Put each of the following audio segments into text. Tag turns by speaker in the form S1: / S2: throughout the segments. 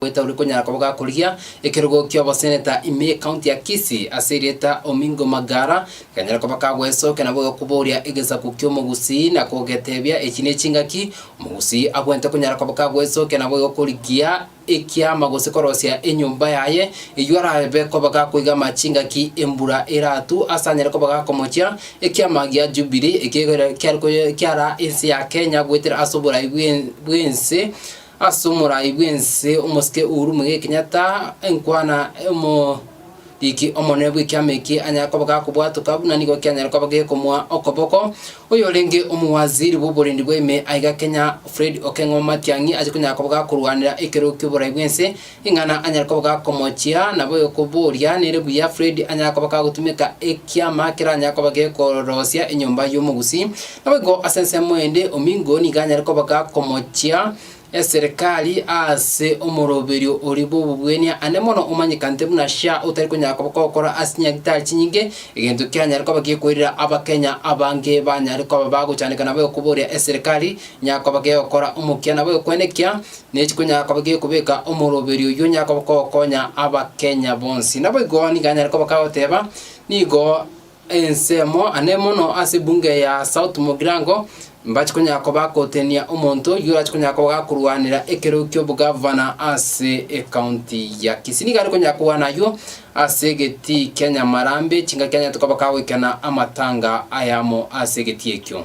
S1: Goeta ore konyara koba gakorigia ekerogo ki'ogoseneta ime y'Ekaunti ya Kisii ase erieta Omingo Magara, gekanyara koba kagoesokia nabo egokoboria egesaku ki'Omogusii na kogetebia echi nechingaki, Omogusii abwente konyara koba kagoesokia nabo egokorigia ekiama gose korosia enyomba yaye, eywo arabe koba gakoigama chingaki embura eratwe ase anyare koba gakomochia ekiama gia Jubilee ekiarekoyia kiara ense ya Kenya goetera ase oborai bw'ense. Ase omorai bw'ense omosike Uhuru Muigai Kenyatta enkwana omoriki omonene bw'ekiama eki anyare koba gakobwatoka buna nigo kianyare koba gekomoa okoboko oyorenge omowaziri bw'oborendi bwa ime aiga Kenya Fred Okeng'o Matiang'i ache konyara koba gakorwanera ekerogo ki'oborai bw'ense Ing'ana anyare koba gakomochia, nabo okoboria, Nere buya Fred anyare koba kagotumeka ekiama keranyare koba gekorosia enyomba y'omogusii. Naboigo ase ensemo ende, Omingo nigo anyare koba gakomochia eserekari aase omoroberio oria bw'obogwenia, aande mono omanyekanete buna SHA otari konyara koba kogokora ase chinyagitari chinyinge, egento kianyare koba gekoirera Abakenya abange banyare koba bagochandeka. Nabo okoboria eserekari inyare koba gegokora omokia nabo okoenekia. Nechiko nyara koba gekobeka omoroberi oyio onyare koba kogokonya Abakenya bonsi. Naboigo nigo anyare koba kagoteba nigo ensemo ane mono ase ebunge ya South Mugirango mbache konyara koba gotenenia omonto oyio orache konyara koba gakorwanera ekero ki'obogavana ase ecounty ya Kisii. Nigo are konyara korwana aywo ase egeti kia Nyamarambe, chingaki anyarete koba kagoikena amatanga ayamo ase egeti ekio.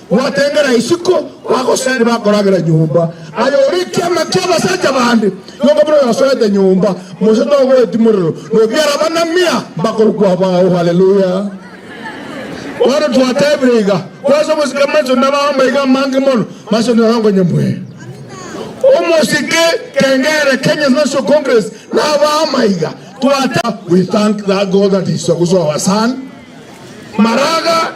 S2: Gwatengera isiko, bagoseri bakoragera nyomba, aye ore ekiama ki'abasacha bande, nyomba buna oyosorete nyomba, Mose togoetimorerwa, nobiara abana mia mbakorokwa abao. Haleluya! Bono twatebire iga, Kwase ogosika maiso nabe amaega amange mono, maiso nere okonyemwea. Omosike kengere Kenya's National Congress nabe amaiga, twatebire, We thank that God that is Ogusu our son, Maraga.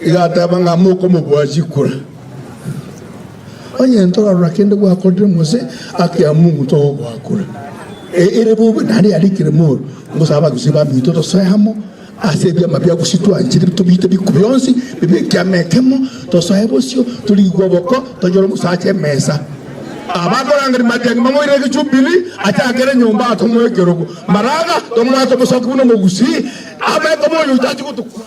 S2: Igateba ng'a, Mokomobua chikura, onye ntorarora kende gwakorire mose ake amo omonto ogoakura. Ere bobe nare yarikire mooro, ngosaba abagusii baminto tosoe amo ase ebiama bia gusii twanchire tobiite biku bionsi bibe ekiama ekemo, tosoe bosio, torigwe oboko, tonyore omosacha emesa. Abakorangeri matiangi mamoirere egechupiri, achakere nyomba atomoe ekerogo, maraga, tomoete omosoki buna omogusii, abe koba oyotachi gotokwa.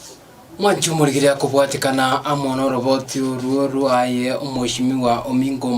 S2: Mwanche
S1: omorigereria kobwatekana amo noroboti orwo rwaye omoishimiwa ominto Matayo.